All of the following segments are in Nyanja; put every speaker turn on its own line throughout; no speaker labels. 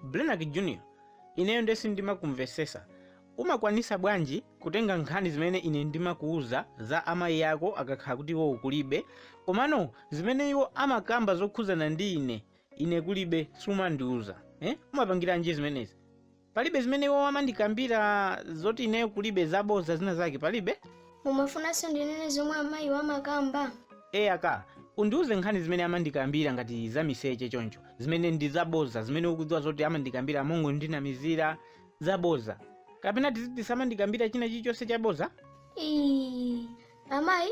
Blenac Junior ineyo ndiye sindimakumvesesa umakwanisa bwanji kutenga nkhani zimene ine ndimakuuza za amayi ako akakhala kuti iwo kulibe komano zimene iwo amakamba zokhuzana ndi ine ine kulibe sumandiuza eh? umapangiranji zimenezi palibe zimene iwo amandikambira zoti ineyo kulibe zaboza zina zake palibe mumafunanso ndinene zomwe amayi amakamba eya ka undiuze nkhani zimene amandikambira ngati za miseche choncho zimene ndi zaboza zimene ukudziwa zoti amandikambira mongondinamizira zaboza kapena tiziti samandikambira china chilichonse chaboza Ii, amayi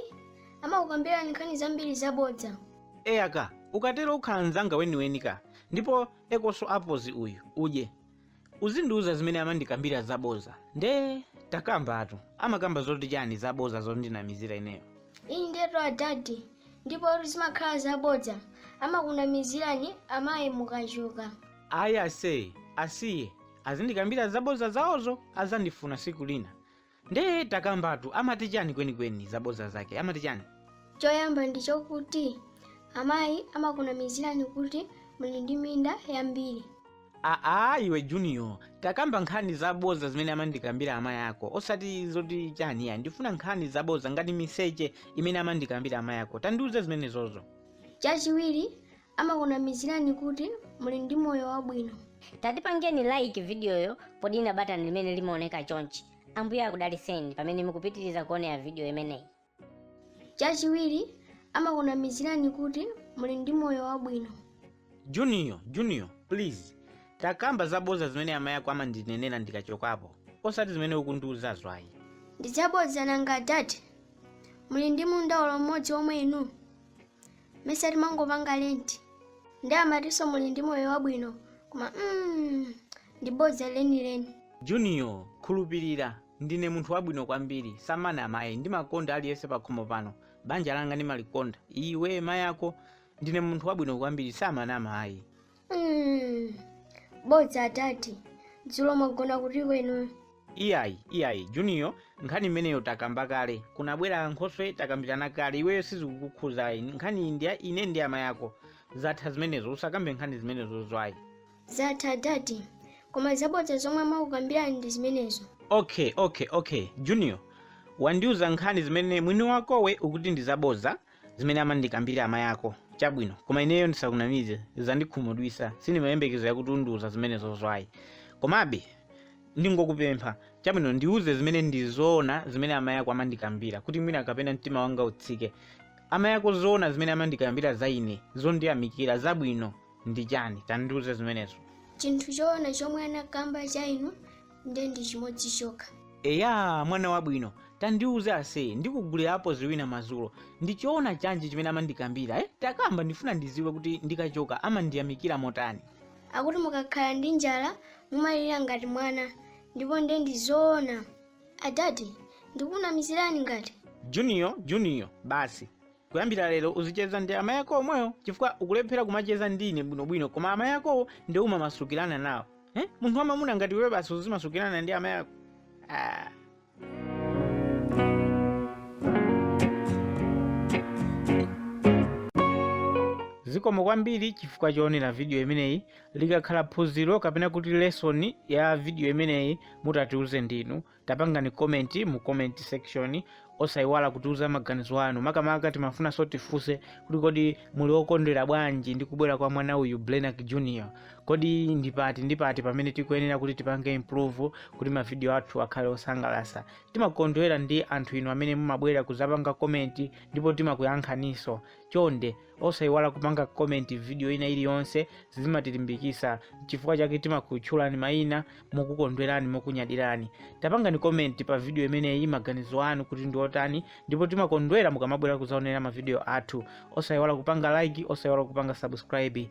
amakukambirani nkhani zambiri zabodza eya ka ukatero ukhala mzanga weniweni ka ndipo ekonso apozi uyu udye uzindiuza zimene amandikambira zaboza nde takambatu amakamba zoti chani zaboza zondinamizira ineyo indetu adadi ndipotu zimakhala zabodza amakunamizirani amayi mukachoka ayi ase asiye azindikambira zaboza zawozo azandifuna siku lina nde takambatu amati chani kwenikweni zabodza zake amati chani choyamba ndi chokuti amayi amakunamizirani kuti muli ndi minda yambiri aa iwe junior takamba nkhani zabodza zimene amandikambira amayi ako osati zoti chani ayi ndifuna nkhani zabodza ngati miseche imene amandikambira amayi ako tandiuze zimenezozo chachiwiri amakunamizirani kuti muli ndi moyo wabwino tatipangeni like vidiyoyo podina batani limene limaoneka chonchi ambuye akudaliseni pamene mukupitiriza kuonera vidiyo imeneyi chachiwiri amakunamizirani kuti muli ndi moyo wabwino junior junior please takamba zaboza zimene amayi ako amandinenera ndikachokapo osati zimene ukundiuzazo ayi ndi zabodza nanga ati muli ndi munda olo mmodzi omwe inu mesa timangopanga rent nde amatinso muli ndi moyo wabwino koma mm, ndi bodza lenileni junior khulupirira ndine munthu wabwino kwambiri sindimana amayi ndimakonda aliyense pakhomo pano banja langa ndimalikonda iwe mayi ako ndine munthu wabwino kwambiri sindimana amayi Mm, bodza adadi dzulo mwagona kuti kwenu iyayi iyayi junior nkhani imeneyo takamba kale kunabwera ankhoswe takambirana kale iweyo sizikukukhuza ayi nkhani iyi ndi ya ine ndi amayi ako zatha zimenezo usakambe nkhani zimenezozo ayi zatha adadi koma zabodza zomwe amakukambirani ndi zimenezo okay okay okay junior wandiuza nkhani zimene mwini wakowe ukuti ndi zabodza zimene amandikambira amayi ako chabwino koma ineyo ndisakunamize zandikhumudwisa sindimayembekezera kuti undiuza zimenezozo ayi komabe ndingokupempha chabwino ndiuze zimene ndizoona zimene amayi ako amandikambira kuti mwina kapena mtima wanga utsike amayi ako zoona zimene amandikambira za ine zondiyamikira zabwino ndi chani tandiuze zimenezo chinthu choona chomwe anakamba cha inu nde ndi chimodzi chokha eya mwana wabwino tandiuze ase ndikugulirapo zibwina madzulo ndi choona chanji chimene amandikambira eh? takamba ndifuna ndiziwe kuti ndikachoka amandiyamikira motani akuti mukakhala ndi njala mumalira ngati mwana ndipo nde ndi zoona adadi ndikunamizirani ngati junior junior basi Kuyambira lero uzicheza ndi amayi ako omwewo chifukwa ukulephera kumacheza ndi ine bwinobwino koma amayi akowo nde umamasukirana nawo. Eh? Munthu wamamuna ngati iwe basi uzimasukirana ndi amayi ako. Ah. zikomo kwambiri chifukwa choonera vidiyo imeneyi likakhala phunziro kapena kuti lesoni ya vidiyo imeneyi mutatiuze ndinu tapangani comment mu comment section osayiwala kutiuza maganizo anu makamaka timafunanso tifunse kuti kodi muli okondwera bwanji ndi kubwera kwa mwana uyu blenak junior kodi ndipati ndipati pamene tikuyenera kuti tipange improve kuti mavidiyo athu akhale osangalasa timakondwera ndi anthu inu amene mumabwera kuzapanga komenti ndipo timakuyankhaninso chonde osayiwala kupanga comment video ina iliyonse zimatilimbikisa chifukwa chake timakutchulani mayina mokukondwerani mokunyadirani tapangani comment pa video imeneyi maganizo anu kuti ndi otani ndipo timakondwera mukamabwera kuzaonera mavideo athu osayiwala kupanga like osayiwala kupanga subscribe